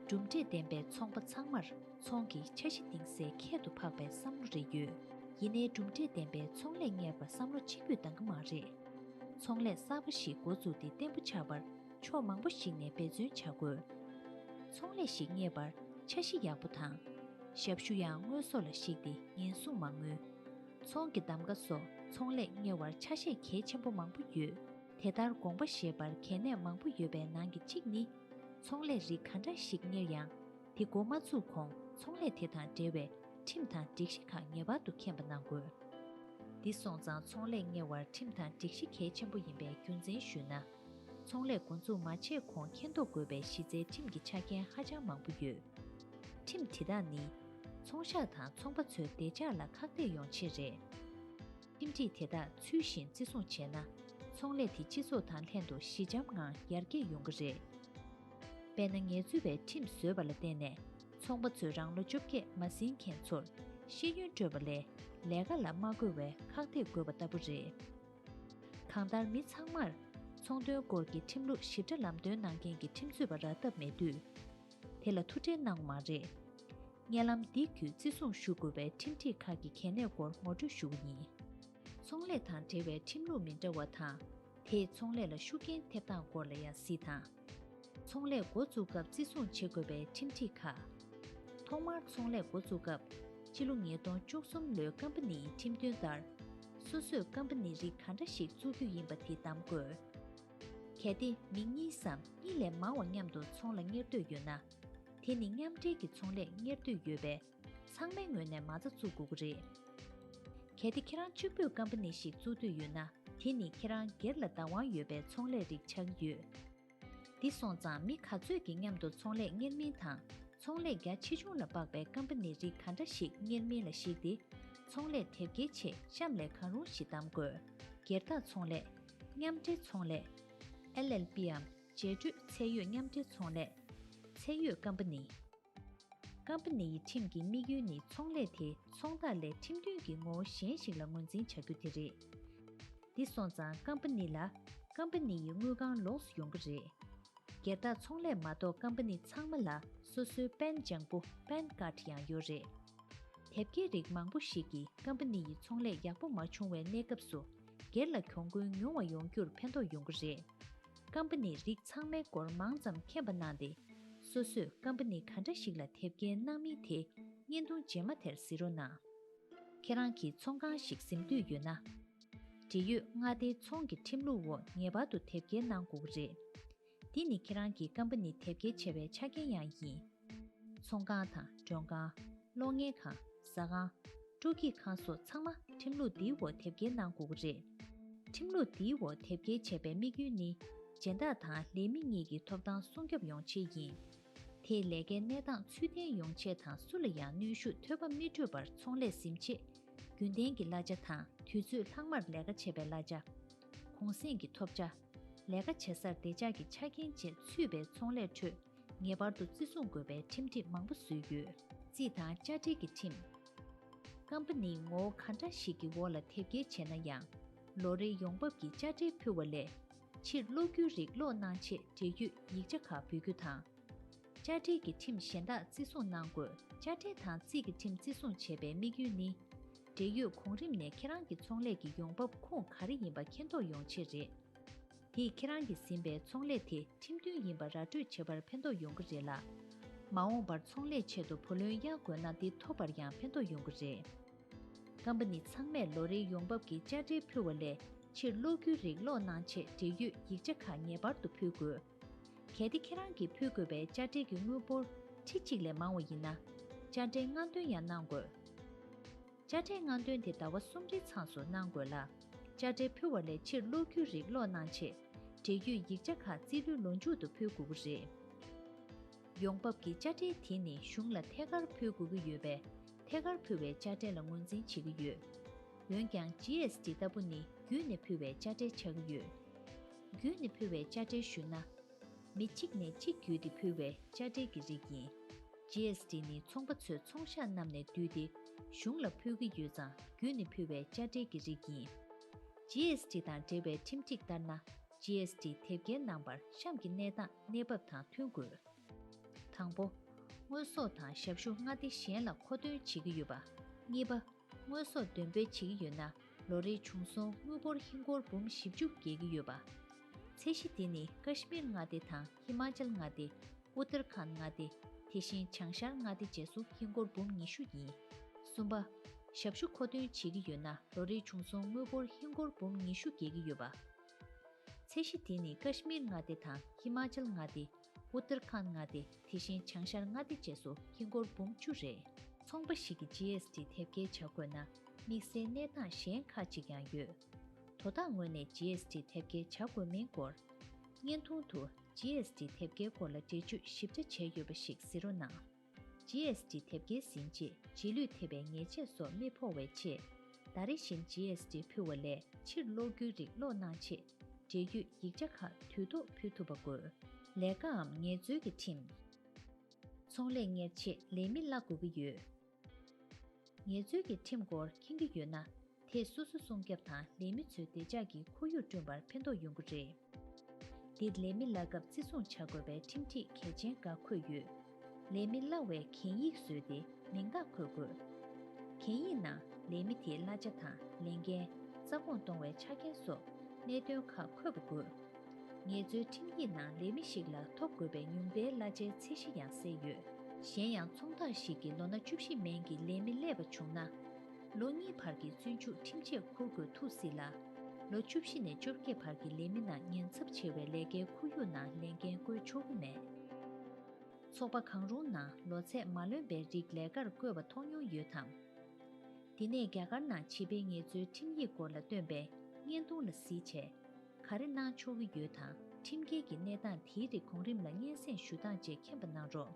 གྲུབ་འབྲས་ལྡན་པའི་ཚོང་པ་ཚང་མར་ཚོང་གི་འཆར་གཞི་གཏིང་གསལ་ཁྱད་དུ་འཕགས་པའི་བསམ་བློ་རེ་ཡོད། ཡིན་ནའི་གྲུབ་འབྲས་ལྡན་པའི་ཚོང་ལས་གཉེར་བར་བསམ་བློ་གཅིག་པུས་འདང་གི་མ་རེད། ཚོང་ལས་གསར་པ་ཞིག་འགོ་བཙུགས་ཏེ་བརྟན་པོ་ཆགས་པར། ཕྱོགས་མང་པོ་ཞིག་ནས་འབད་བརྩོན་བྱ་དགོས། ཚོང་ལས་ཤིག་གཉེར་པར་འཆར་གཞི་ཡག་པོ་དང། ཞབས་ཞུ་ཡང་དངོས་ཟོག་ལ་གཞིགས་ཏེ་ཉེན་སྲུང་མ་དངུལ། ཚོང་གི་གདམ་ག་སོགས་ཚོང་ལས་གཉེར་བར་ཆ་ཤས་གལ་ཆེན་པོ་མང་པོ་ཡོད། དེ་ལྟར་དགོངས་པ་བཞེས་པར་གལ་གནད་མང་པོ་ཡོད་པའི་ནང་གི་གཅིག་ནི། ཚོང་ལས་རིགས་ག་འདྲ་ཞིག་གཉེར་ཡང། དེ་འགོ་མ་བཙུགས་གོང་ཚོང་ལས་དེ་དང་འབྲེལ་བའི་ཁྲིམས་དང་སྒྲིག་གཞི་ཁག་ངེས་པར་དུ་མཁྱེན་པ་གནང་དགོས། འདི་སོང་ཙང་ཚོང་ལས་གཉེར་བར་ཁྲིམས་དང་སྒྲིག་གཞི་གལ་ཆེན་པོ་ཡིན་པའི་རྒྱུ་མཚན་ཞུས་ན། ཚོང་ལས་འགོ་འཛུགས་མ་བྱས་གོང་མཁྱེན་རྟོགས་དགོས་པའི་གཞི་རྩའི་ཁྲིམས་ཀྱི་ཆ་རྐྱེན་ཧ་ཅང་མང་པོ་ཡོད། ཁྲིམས་དེ་དག་ནི། ཚོང་ཤག་དང་ཚོང་པ་ཚོའི་བདེ་འཇགས་ལ་ཁག་ཐེག་ཡོང་ཆེད་རེད། ཁྲིམས་སྒྲིག་དེ་དག་ཚུལ་བཞིན་བརྩི་སྲུང་བྱས་ན། ཚོང་ལས་དེ་སྤྱི་ཚོགས་དང་ལྷན་དུ་ཞི་འཇམ་ངང་ཡར་རྒྱས་ཡོང་གི་རེད། དཔེར་ན་ངལ་རྩོལ་པས་ཁྲིམས་བཟོས་པ་ལ་བརྟེན་ནས་ཚོང་པ་ཚོས་རང་ལོ་བཅོ་བརྒྱད་མ་ཟིན་མཁན་ཚོར་ཤེས་ཡོན་སྤྲོད་པ་ལས་ལས་ཀ་ལ་མ་བཀོལ་བའི་ཁག་ཐེག་དགོས་པ་ལྟ་བུ་རེད། གང་ལྟར་མི་ཚང་མར། ཚོང་དོན་སྐོར་གྱི་ཁྲིམས་ལུགས་ཞིབ་ཕྲ་ལམ་སྟོན་གནང་མཁན་གྱི་ཁྲིམས་རྩོད་པ་རག་ཐབས་མེད་དུས། དེ་ལ་ཐུགས་ཁྲལ་གནང་བ་མ་རེད། བརྙན་ལམ་འདི་བརྒྱུད་བརྩི་སྲུང་ཞུ་དགོས་པའི་ཁྲིམས་སྒྲིག་ཁག་གི་གལ་གནད་སྐོར་ངོ་སྤྲོད་ཞུ་བ་ཡིན། ཚོང་ལས་དང་འབྲེལ་བའི་ཁྲིམས་ལུགས་མི་འདྲ་བ་དང། དེས་ཚོང་ལས་ལ་ཤུགས་རྐྱེན་ཐེབས་སྟངས་སྐོར་ལ་ཡང་གཟིགས་དང། ཚོང་ལས་འགོ་འཛུགས་སྐབས་བརྩི་སྲུང་བྱེད་དགོས་པའི་ཁྲིམས་སྒྲིག་ཁག། ཐོག་མར་ཚོང་ལས་འགོ་འཛུགས་སྐབས་ཕྱི་ལོ་ཉིས་སྟོང་བཅུ་གསུམ་ལོའི་ཀམ་པ་ནིའི་ཁྲིམས་དོན་ལྟར། སོ་སོས་ཀམ་པ་ནི་རིགས་ག་འདྲ་ཞིག་བཙུགས་རྒྱུ་ཡིན་པ་དེ་བདམས་དགོས། གལ་ཏེ་མི་གཉིས་སམ་གཉིས་ལས་མང་བ་མཉམ་དུ་ཚོང་ལ་གཉེར་འདོད་ཡོད་ན། དེ་ནི་མཉམ་འབྲེལ་གྱི་ཚོང་ལས་གཉེར་འདོད་ཡོད་པས་ཚང་མའི་ངོས་ནས་མ་རྩ་བཙུགས་དགོས་ཀྱི་རེད། གལ་ཏེ་ཁྱེད་རང་གཅིག་པོས་སྐམ་པ་ནི་ཞིག་བཙུགས་འདོད་ཡོད་ན་དེ་ནི་ཁྱེད་རང་སྒེར་ལ་བདག་དབང་ཡོད་པའི་ཚོང་ལས་རིགས་ཆགས་ཀྱི་ཡོད། འདི་སོང་ཙང་མི་ག་ཚོད་ཀྱིས་མཉམ་དུ་ཚོང་ལས་གཉེར་མིན་དང་ཚོང་ལས་རྒྱ་ཆེ་ཆུང་ལ་དཔགས་པའི་སྐམ་པ་ནི་རིགས་ག་འདྲ་ཞིག་གཉེར་མིན་ལ་གཞིགས་ཏེ། ཚོང་ལས་དེབ་སྐྱེལ་ཆེད་གཤམ་ལས་གང་རུང་ཞིག་གདམ་དགོས། སྒེར་བདག་ཚོང་ལས། མཉམ་འབྲེལ་ཚོང་ལས། LLP འམ་རྗེས་སྤྲོད་ཚད་ཡོད་མཉམ་འབྲེལ་ཚོང་ལས། ཚད་ཡོད་སྐམ་པ་ནི། ཀམ་པ་ནི་ཡི་ཁྲིམས་ཀྱི་དམིགས་ཡུལ་ནི་ཚོང་ལས་དེ་ཚོང་བདག་ལས་ཁྲིམས་མཐུན་གྱི་ངོ་བོ་གཞན་ཞིག་ལ་ངོས་འཛིན་བྱ་རྒྱུ་དེ་རེད། འདི་སོང་ཙང་ཀམ་པ་ནི་ལ། ཀམ་པ་ནི་ཡི་དངུལ་ཁང་ལོགས་སུ་ཡོང་གི་རེད། སྒེར་བདག་ཚོང་ལས་མ་གཏོགས་ཀམ་པ་ནི་ཚང་མ་ལ་སོ་སོའི་དཔལ་འབྱང་པུ Pan Card ཡང་ཡོད་རེད། དེབ་སྐྱེལ་རིགས་མང་པོ་ཞིག་གིས་ཀམ་པ་ནི་ཡི་ཚོང་ལས་ཡག་པོ་མ་བྱུང་བའི་གནས་སྐབས་སུ་སྒེར་ལ་གྱོང་གུན་ཉུང་བ་ཡོང་རྒྱུར་ཕན་ཐོགས་ཡོང་གི་རེད། ཀམ་པ་ནི་རིགས་ཚང་མའི་སྐོར་མང་ཙམ་མཁྱེན་པ་གནང་སྟེ། སོ་སོས་ཀམ་པ་ནི་ག་འདྲ་ཞིག་ལ་དེབ་སྐྱེལ་གནང་མིན་དེ་བརྙན་ཐུང་རྗེས་མ་དེར་གཟིགས་རོགས་གནང། ཁྱེད་རང་གིས་ཚོང་ཁང་ཞིག་གཟིམ་འདོད་ཡོད་ན། འབྲེལ་ཡོད་མངའ་སྡེའི་ཚོང་གི་ཁྲིམས་ལུགས་འོག་ངེས་པར་དུ་དེབ་སྐྱེལ་གནང་དགོས་ཀྱི་རེད། འདི་ནི་ཁྱེད་རང་གི་ཀམ་པ་ནི་དེབ་སྐྱེལ་བྱ་བའི་ཆ་རྐྱེན་ཡང་ཡིན། ཚོང་ཁང་དང་མགྲོན་ཁང། གློག་བརྙན་ཁང། ཟ་ཁང། སྤྲོ་སྐྱིད་ཁང་སོགས་ཚང་མ་ཁྲིམས་ལུགས་འདིའི་འོག་དེབ་སྐྱེལ་གནང་དགོས་ཀྱི་རེད། ཁྲིམས་ལུགས་འདིའི་འོག་དེབ་སྐྱེལ་བྱས་པའི་དམིགས་ཡུལ་ནི། སྦྱིན་བདག་དང་ལས་མི་གཉིས་ཀྱི་ཐོབ་ཐང་སྲུང་སྐྱོབ་ཡོང་ཆེད་ཡིན། དེས་ལས་ཀའི་གནས་སྟངས་ཚུལ་ལྡན་ཡོང་ཆེད་དང་སུ་ལ་ཡང་གནོན་ཤུགས་ཐོལ་པ་མི་སྤྲོད་པར་ཚོང་ལས་ཟིན་བྱེད། རྒྱུན་གཏན་གྱི་གླ་ཆ་དང་དུས་ཚོད་ལྷག་མར་ལས་ཀ་བྱེད་པའི་གླ་ཆ། གུང་གསེང་གི་ཐོབ་ཆ། ལས་ཀ་བྱེད་སར་བདེ་འཇགས་ཀྱི་ཆ་རྐྱེན་བཅས་ཚུད་པའི་ཚོང་ལས་ཁྲོད། ངེས་པར་དུ་བརྩི་སྲུང་དགོས་པའི་ཁྲིམས་སྒྲིག་མང་པོ་བཟོས་ཡོད། རྩིས་དང་བཅའ་སྒྲིག་གི་ཁྲིམས། སྐམ་པ་ནི་ངོ་བོ་ག་འདྲ་ཞིག་གི་འོག་ལ་ཐེབས་སྐྱེལ་བྱས་ན་ཡང། ལོ་རེའི་ཡོང་འབབ་ཀྱི་བཅའ་ཁྲིམས་ཕུལ་བ་ལས། ཕྱིར་སློག་རྒྱུའི་རིགས་སློག་གནང་ཆེད་འབྲེལ་ཡོད་ཡིག་ཆ་ཁག་འབུལ་རྒྱུ་དང། བཅའ་སྒྲིག་གི་ཁྲིམས་གཞན་དག་བརྩི་སྲུང་གནང་དགོས། བཅའ་ཁྲིམས་དང་རྩིས་ཀྱི་ཁྲིམས་བརྩི་སྲུང་བྱེད་པའི་དམིགས་ཡུལ་ནི། འབྲེལ་ཡོད་གོང་རིམ་ནས་ཁྱེད་རང་གི་ཚོང་ལས་ཀྱི་ཡོང་འབབ་ཁུངས་ག་རེ་ཡིན་པ་མཁྱེན་རྟོགས་ཡོང་ཆེད་རེད། དེས་ཁྱེད་རང་གིས་ཟིན་པའི་ཚོང་ལས་དེ་ཁྲིམས་མཐུན་ཡིན་པ་ར་སྤྲོད་བྱེད་པར་ཕན་ཐོགས་ཡོང་གི་རེད་ལ། མ་འོངས་པར་ཚོང་ལས་ཆེད་དུ་བུ་ལོན་གཡར་དགོས་ན་འདི་ཐོབ་པར་ཡང་ཕན་ཐོགས་ཡོང་གི་རེད། ཀམ་པ་ནི་ཚང་མས་ལོ་རེའི་ཡོང་འབབ་ཀྱི་དཔྱ་ཁྲལ་ཕུལ་བ་ལས་ཕྱིར་གློག་རྒྱུའི་རིགས་གློག་ནང་ཆེད་འབྲེལ་ཡོད་ཡིག་ཆ་ཁག་ངེས་པར་དུ་ཕུལ་དགོས། གལ་ཏེ་ཁྱེད་རང་གིས་ཕུལ་དགོས་པའི་དཔྱ་ཁྲལ་གྱི་དངུལ་འབོར་ཁྲི་གཅིག་ལས་མང་བ་ཡིན་ན། དཔྱ་ཁྲལ་སྔ་འདོན་ཡང་གནང་དགོས། དཔྱ་ཁྲལ་སྔ་འདོན་དེ་ཟླ་བ་གསུམ་རེའི་མཚམས་སུ་གནང་དགོས་ལ། དཔྱ་ཁྲལ་ཕུལ་བ་ལས་ཕྱིར་སློག་རྒྱུའི་རིགས་སློག་གནང་ཆེད། འབྲེལ་བརྒྱུད་ཡིག་ཆ་ཁག་རྩིས་ལོའི་ལོ་མཇུག་ཏུ་ཕུལ་དགོས་པ་རེད། ཡོང་འབབ་ཀྱི་དཔྱ་ཁྲལ་དེ་ནི་གཞུང་ལ་ཐད་ཀར་ཕུལ་དགོས་ཀྱི་ཡོད་པས། ཐད་ཀར་ཕུལ་བའི་དཔྱ་ཁྲལ་ལ་ངོས་འཛིན་བྱེད་ཀྱི་ཡོད། འོན་ཀྱང GST ལྟ་བུ་ནི་བརྒྱུད་ནས་ཕུལ་བའི་དཔྱ་ཁྲལ་ཆགས་ཀྱི་ཡོད། བརྒྱུད་ནས་ཕུལ་བའི་དཔྱ་ཁྲལ་ཞུས་ན། མི་གཅིག་ནས་གཅིག་བརྒྱུད་དེ་ཕུལ་བའི་དཔྱ་ཁྲལ་གྱི་རིགས་ཡིན། GST། ནི་ཚོང་པ་ཚོས་ཚོང་ཤག་རྣམས་ནས་བསྡུས་ཏེ་གཞུང་ལ་ཕུལ་གྱི་ཡོད་ཙང་བརྒྱུད་ནས་ཕུལ་བའི་དཔྱ་ཁྲལ་གྱི་རིགས་ཡིན། GST། དང་འབྲེལ་བའི་ཁྲིམས་སྒྲིག་ལྟར་ན GST། དེབ་སྐྱེལ་ནང་བར་གཤམ་གྱི་གནས་སྟངས་གནས་བབ་དང་མཐུན་དགོས། དང་པོ། དངོས་ཟོག་དང་ཞབས་ཞུ་མངའ་སྡེ་གཞན་ལ་མཁོ་འདོན་བྱེད་ཀྱི་ཡོད་པ། གཉིས་པ། དངོས་ཟོག་འདོན་སྤེལ་བྱེད་ཀྱི་ཡོད་ན་ལོ་རེའི་བྱུང་སོང་དངུལ་འབོར་ཧིན་སྒོར་འབུམ་བཞི་བཅུ་བརྒལ་གྱི་ཡོད་པ། ཚད་གཞི་དེ་ནི་ཀཱ་ཤི་མིར་མངའ་སྡེ་དང་ཧི་མཱ་ཅལ་མངའ་སྡེ། ཨུ་ཏར་ཁཱནད་མངའ་སྡེ། དེ་བཞིན་བྱང་ཤར་མངའ་སྡེ་བཅས་སུ་ཧིན་སྒོར་འབུམ་ཉི་ཤུ་ཡིན། གསུམ་པ། ཞབས་ཞུ་མཁོ་འདོན་བྱེད་ཀྱི་ཡོད་ན་ལོ་རེའི་བྱུང་སོང་དངུལ་འབོར་ཧིན་སྒོར་འབུམ་ཉི་ཤུ་བརྒལ་གྱི་ཡོད་པ། ཚད་གཞི་དེ་ནི་ཀཱ་ཤི་མིར་མངའ་སྡེ་དང་ཧི་མཱ་ཅལ་མངའ་སྡེ། ཨུ་ཏར་ཁཱནད་མངའ་སྡེ་དེ་བཞིན་བྱང་ཤར་མངའ་སྡེ་བཅས་སུ་ཧིན་སྒོར་འབུམ་བཅུ་རེ། ཚོང་པ་ཞིག་གིས GST དེབ་སྐྱེལ་བྱ་དགོས་ན་དམིགས་བསལ་གནས་སྟངས་གཞན་ཁག་ཅིག་ཡང་ཡོད། དོ་བདག་ངོས་ནས GST དེབ་སྐྱེལ་བྱ་དགོས་མིན་སྐོར། བརྙན་ཐུང་དུ GST དེབ་སྐྱེལ་སྐོར་ལ་འགྲེལ་བརྗོད་ཞིབ་ཕྲ་བྱས་ཡོད་པ་ཞིག་གཟིགས་རོགས་གནང། GST དེབ་སྐྱེལ་ཟིན་རྗེས་རྗེས་ལུས་ཐེབས་པའི་ཉེས་ཆད་སོགས་རྨིས་ཕོག་བའི་ཆེད། ཟླ་རེ་བཞིན GST ཕུལ་བ་ལས་ཕྱིར་སློག་རྒྱུའི་རིགས་སློག་གནང་ཆེད། འབྲེལ་ཡོད་ཡིག་ཆ་ཁག་དུས་ཐོག་ཕུལ་ཐུབ་པ་དགོས། ལས་ཀའམ་ངལ་རྩོལ་གྱི་ཁྲིམས། ཚོང་ལས་གཉེར་ཆེད་ལས་མི་གླ་དགོས་ཀྱི་ཡོད། ངལ་རྩོལ་གྱི་ཁྲིམས་སྐོར་མཁྱེན་གྱི་ཡོད་ན་དེས་སོ་སོ་སྲུང་སྐྱབས་དང་ལས་མི་ཚོའི་བདེ་འཇགས་ཀྱི་ཁོར་ཡུག་བསྐྲུན་པར་ཕན་ཐོགས་ཡོང་གི་རེད། འདིར་ལས་མི་གླ་སྐབས་བརྩི་སྲུང་བྱ་དགོས་པའི་ཁྲིམས་སྒྲིག་གལ་ཆེན་འགའ་འཁོད་ཡོད། ལས་མི་གླ་བའི་གན་ཡིག་བཟོས་ཏེ་མིང་རྟགས་འཁོད་དགོས། གན་ཡིག་ནང་ལས་མི་དེའི་གླ་ཆ་དང་ལས་འགན། རྩ་དགོངས་གཏོང་བའི་ཆ་རྐྱེན་སོགས་གནད་དོན་ཁག་འཁོད་པ་དགོས། ངལ་རྩོལ་ཁྲིམས་ཡིག་ནང་ལས་མི་ཞིག་ལ་ཐོབ་དགོས་པའི་ཉུང་མཐའི་གླ་ཆའི་ཚད་གཞི་ཡང་གསལ་ཡོད། གཞན་ཡང་ཚོང་རྟགས་ཤིག་གིས་ལོ་ན་བཅུ་བཞི་མན་གྱི་ལས་མི་གླས་པ་བྱུང་ན། ལོ་གཉིས་བར་གྱི་བཙོན་འཇུག་ཁྲིམས་ཆད་འཁུར་དགོས་ཐུག་སྲིད་ལ། ལོ་བཅུ་བཞི་ནས་བཅོ་བརྒྱད་བར་གྱི་ལས་མི་རྣམས་ཉེན་ཚབས་ཆེ་བའི་ལས་ཀའི་ཁོར་ཡུག་ནང་ལས་འགན་བཀོལ་ཆོག་གི་མེད། ཚོགས་པ་གང་རུང་ནང་ལོ་ཚད་མ་ལོན་པའི་རིགས་ལས་ཀར་བསྐོས་པ་མཐོང་མྱོང་ཡོད་དམ། དེ་ནས་རྒྱ་གར་ནང་བྱིས་པའི་ངལ་རྩོལ་ཁྲིམས་ཡིག་སྐོར་ལ་བཏོན་པའི་བརྙན་ཐུང་ལ་གཟིགས་བྱས། ག་རེ་གནང་ཆོག་གི་ཡོད་དང་ཁྲིམས་འགལ་གྱི་གནས་སྟངས་དེའི་རིགས་གོང་རིམ་ལ་སྙན་སེང་ཞུ་སྟངས་བཅས་མཁྱེན་པ་གནང་རོགས།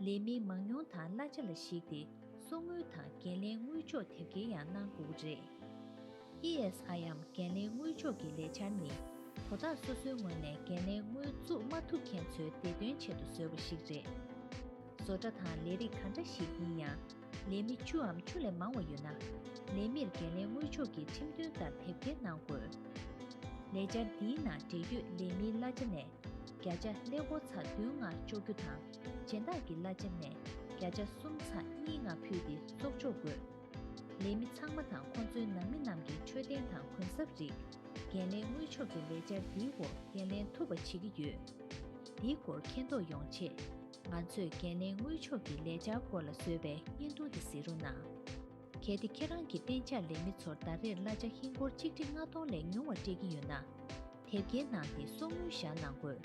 ལས་མི་མང་ཉུང་དང་གླ་ཆ་ལ་གཞིགས་ཏེ་གསོག་དངུལ་དང་འགན་ལེན་དངུལ་འཇོག་དེབ་སྐྱེལ་ཡང་གནང་དགོས་པ་རེད། ESIM འགན་ལེན་དངུལ་འཇོག་གི་ལས་འཆར་ནི་དོ་བདག་སོ་སོའི་ངོས་ནས་འགན་ལེན་དངུལ་བཙུགས་མ་ཐུབ་མཁན་ཚོའི་བདེ་དོན་ཆེད་དུ་བཟོས་པ་ཞིག་རེད། བཟོ་གྲྭ་དང་ལས་རིགས་གང་འདྲ་ཞིག་ཡིན་ཡང་ལས་མི་བཅུའམ་བཅུ་ལས་མང་བ་ཡོད་ན། ལས་མིར་འགན་ལེན་དངུལ་འཇོག་གི་ཁྲིམས་མཐུན་ལྟར་དེབ་སྐྱེལ་གནང་དགོས། ལས་འཆར་འདིའི་ནང་འབྲེལ་ཡོད་ལས་མིའི་གླ་ཆ་ནས་བརྒྱ་ཆ་ལས་འགོ་ཚ་བདུན་ལྔ་གཅོག་རྒྱུ་དང། སྦྱིན་བདག་གི་བླ་ཆེན་ནས་བརྒྱ་ཆ་གསུམ་ཚང་གཉིས་ལྔ་ཕུལ་ཏེ་གཙོག་འཇོག་དགོས། ལས་མི་ཚང་མ་དང་ཁོང་ཚོའི་ནང་མི་རྣམས་ཀྱི་འཕྲོད་བསྟེན་དང་གུན་གསབ་རིགས། འགན་ལེན་དངུལ་ཕྱོགས་ཀྱི་ལས་འཆར་འདིའི་སྐོར་འགན་ལེན་ཐུབ་པ་བྱེད་ཀྱི་ཡོད། འདིའི་སྐོར་མཁྱེན་རྟོགས་ཡོང་ཆེད། ང་ཚོས་འགན་ལེན་དངུལ་ཕྱོགས་ཀྱི་ལས་འཆར་སྐོར་ལ་བཟོས་པའི་བརྙན་ཐུང་འདི་གཟིགས་རོགས་གནང། གལ་ཏེ་ཁྱེད་རང་གིས་གཏན་འཇགས་ལས་མི་ཚོར་ཟླ་རེར་གླ་ཆ་ཧིན་སྒོར་གཅིག་ཁྲི་ལྔ་སྟོང་ལས་ཉུང་བ་སྤྲད་ཀྱི་ཡོད་ན། དེབ་སྐྱེལ་གནང་སྟེ་གསོག་དངུལ་བཞག་གནང་དགོས།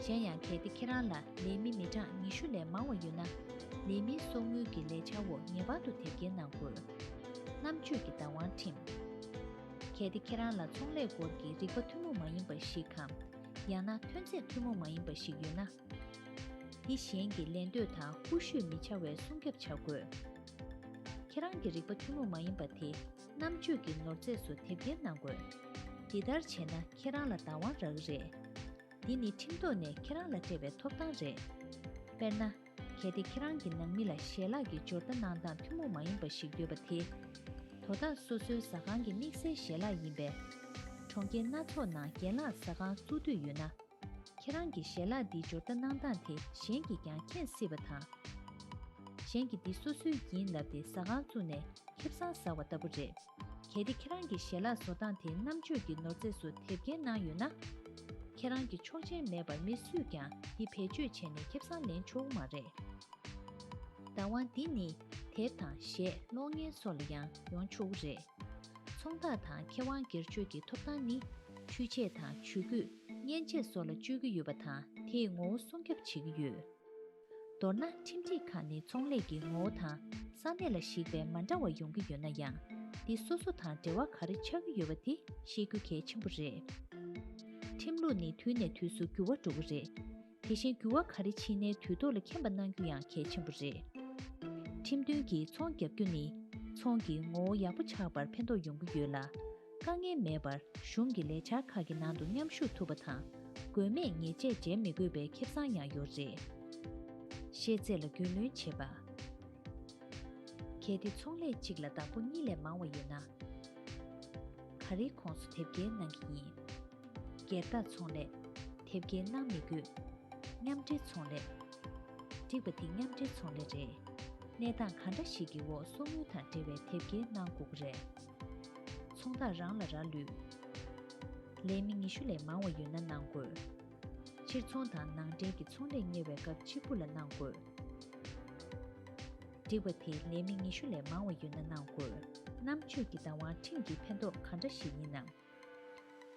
གཞན་ཡང་གལ་ཏེ་ཁྱེད་རང་ལ་ལས་མི་མི་གྲངས་ཉི་ཤུ་ལས་མང་བ་ཡོད་ན། ལས་མིའི་གསོག་དངུལ་གྱི་ལས་འཆར་འོག་ངེས་པར་དུ་དེབ་སྐྱེལ་གནང་དགོས། རྣམ་དཔྱོད་ཀྱི་བདག་དབང་ཁྲིམས། གལ་ཏེ་ཁྱེད་རང་ལ་ཚོང་ལས་སྐོར་གྱི་རིག་པ་ཐུན་མོང་མ་ཡིན་པ་ཞིག་གམ། ཡང་ན་ཐོན་རྫས་ཐུན་མོང་མ་ཡིན་པ་ཞིག་ཡོད་ན། དེ་གཞན་གྱི་ལེན་འདོད་དང་རྐུ་ཤོད་མི་བྱ་བའི་སྲུང་སྐྱབས་བྱ་དགོས། ཁྱེད་རང་གི་རིག་པ་ཐུན་མོང་མ་ཡིན་པ་དེ་རྣམ་དཔྱོད་ཀྱི་ནོར་རྫས་སུ་དེབ་སྐྱེལ་གནང་དགོས། འདི་ལྟར་བྱས་ན་ཁྱེད་རང་ལ་བདག་དབང་རག་གི་རེད། འདི་ནི་ཁྲིམས་ཐོག་ནས་ཁྱེད་རང་ལ་སྤྲད་པའི་ཐོབ་ཐང་རེད། དཔེར་ན། གལ་ཏེ་ཁྱེད་རང་གི་ནང་མི་ལ་ཞལ་ལག་གི་སྦྱོར་རྟ་གནང་སྟངས་ཐུན་མོང་མ་ཡིན་པ་ཞིག་འདོད་པ་དེ། དོ་བདག་སོ་སོའི་ཟ་ཁང་གི་དམིགས་བསལ་ཞལ་ལག་ཡིན་པས། གྲོང་ཁྱེར་སྣ་ཚོགས་ནང་རྒན་ལགས་ཟ་ཁང་བཙུགས་འདོད་ཡོད་ན། ཁྱེད་རང་གི་ཞལ་ལག་འདིའི་སྦྱོར་བརྡ་གནང་སྟངས་དེ་གཞན་གྱིས་ཀྱང་མཁྱེན་སྲིད་པ་དང། གཞན་གྱིས་འདི་སོ་སོའི་ཡིན་ལབ་སྟེ་ཟ་ཁང་བཙུགས་ནས་ཁེབས་སྲང་ཟ་བ་ལྟ་བུ་རེད། གལ་ཏེ་ཁྱེད་རང་གི་ཞལ་ལག་བཟོ་སྟངས་དེ་རྣམ་དཔྱོད་ཀྱི་ནོར་རྫས་སུ་དེབ་སྐྱེལ་གནང་ཡོད་ན། ཁྱེད་རང་གི་ཆོག་མཆན་མེད་པར་མི་སུས་ཀྱང་འདི་བེད་སྤྱོད་བྱས་ནས་ཁེབས་སྲང་ལེན་ཆོག་གི་མ་རེད། བདག་དབང་འདི་ནི་དེབ་དང་གཞས་གློག་བརྙན་སོགས་ལ་ཡང་ཡོང་ཆོག་གི་རེད། ཚོང་བདག་དང་མཁས་དབང་སྒེར་གཅོད་ཀྱི་ཐོབ་ཐང་ནི་ཆུ་ཆད་དང་ཇུས་འགོད། མཉེན་ཆས་སོགས་ལ་སྤྱོད་ཀྱི་ཡོད་པ་དང་དེས་ངོ་བོ་སྲུང་སྐྱོབ་བྱེད་ཀྱི་ཡོད། མདོར་ན་ཁྲིམས་སྒྲིག་ཁག་ནི་ཚོང་ལས་ཀྱི་ངོ་བོ་དང་ས་གནས་ལ་གཞིགས་པའི་མ་འདྲ་བ་ཡོང་གི་ཡོད་ན་ཡང་འདི་སོ་སོ་དང་འབྲེལ་བ་ག་རེ་ཆགས་ཀྱི་ཡོད་པ་དེ་ཤེས་རྒྱུ་གལ་ཆེན་པོ་རེད། ཁྲིམས་ལུགས་ནི་དུས་ནས་དུས་སུ་འགྱུར་བ་འགྲོ་གི་རེད། དེ་བཞིན་འགྱུར་བ་ག་རེ་ཕྱིན་ནའི་དུས་ཐོག་ལ་མཁྱེན་པ་གནང་རྒྱུ་ཡང་གལ་ཆེན་པོ་རེད། ཁྲིམས་མཐུན་གྱིས་ཚོང་བརྒྱབ་རྒྱུ་ནི་ཚོང་གི་ངོ་བོ་ཡག་པོ་ཆགས་པར་ཕན་ཐོགས་ཡོང་གི་ཡོད་ལ། དཀའ་ངལ་མེད་པར་གཞུང་གི་ལས་འཆར་ཁག་གི་ནང་དུ་མཉམ་ཞུགས་ཐུབ་པ་དང། དགོས་མེད་ཉེས་ཆད་འཇལ་མི་དགོས་པའི་ཁེ་བཟང་ཡང་ཡོད་རེད། ཤེས་ཚད་ལ་རྒྱུས་ལོན་བྱེད་པ། གལ་ཏེ་ཚོང་ལས་གཅིག་ལ་བདག་པོ་གཉིས་ལས་མང་བ་ཡོད་ན། ག་རེའི་ཁོངས་སུ་དེབ་སྐྱེལ་གནང་གི་ཡིན། སྒེར་བདག་ཚོང་ལས། དེབ་སྐྱེལ་གནང་མི་དགོས། མཉམ་འབྲེལ་ཚོང་ལས། འགྲིག་པ་འདི་མཉམ་འབྲེལ་ཚོང་ལས་རེད། གནས་སྟངས་ག་འདྲ་ཞིག་གི་འོག་གསོག་དངུལ་དང་འབྲེལ་བའི་དེབ་སྐྱེལ་གནང་དགོས་ཀྱི་རེད། ཚོང་བདག་རང་ལ་རག་ལུས། ལས་མི་ཉི་ཤུ་ལས་མང་བ་ཡོད་ན་གནང་དགོས། ཕྱིར་ཚོང་དང་ནང་འདྲེན་གྱི་ཚོང་ལས་གཉེར་བའི་སྐབས་གཅིག་པུ་ལ་གནང་དགོས། སྒྲིག་པ་དེ་ལས་མི་ཉི་ཤུ་ལས་མང་བ་ཡོད་ན་གནང་དགོས། རྣམ་དཔྱོད་ཀྱི་བདག་དབང་ཁྲིམས་ཀྱིས་ཕན་ཐོགས་ག་འདྲ་ཞིག་ཡིན་ནམ།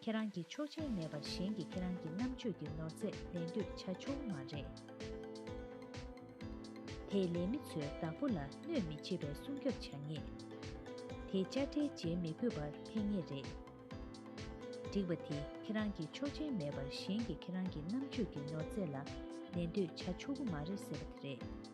ཁྱེད་རང་གིས་ཆོག་མཆན་མེད་པར་གཞན་གྱིས་ཁྱེད་རང་གི་རྣམ་དཔྱོད་ཀྱི་ནོར་རྫས་ལེན་འདོད་བྱ་ཆོག་མ་རེད། དེས་ལས་མི་ཚོའི་བདག་པོ་ལ་གནོད་མི་བྱེད་པའི་སྲུང་སྐྱོབ་བྱ་ངེས། དེས་དཔྱ་ཁྲལ་འཇལ་མི་དགོས་པར་ཕན་ངེས་རེད། སྒྲིག་པ་དེ་ཁྱེད་རང་གིས་ཆོག་མཆན་མེད་པར་གཞན་གྱིས་ཁྱེད་རང་གི་རྣམ་དཔྱོད་ཀྱི་ནོར་རྫས་ལ་ལེན་འདོད་བྱ་ཆོག་གི་མ་རེད་ཟེར་བ་དེ་རེད།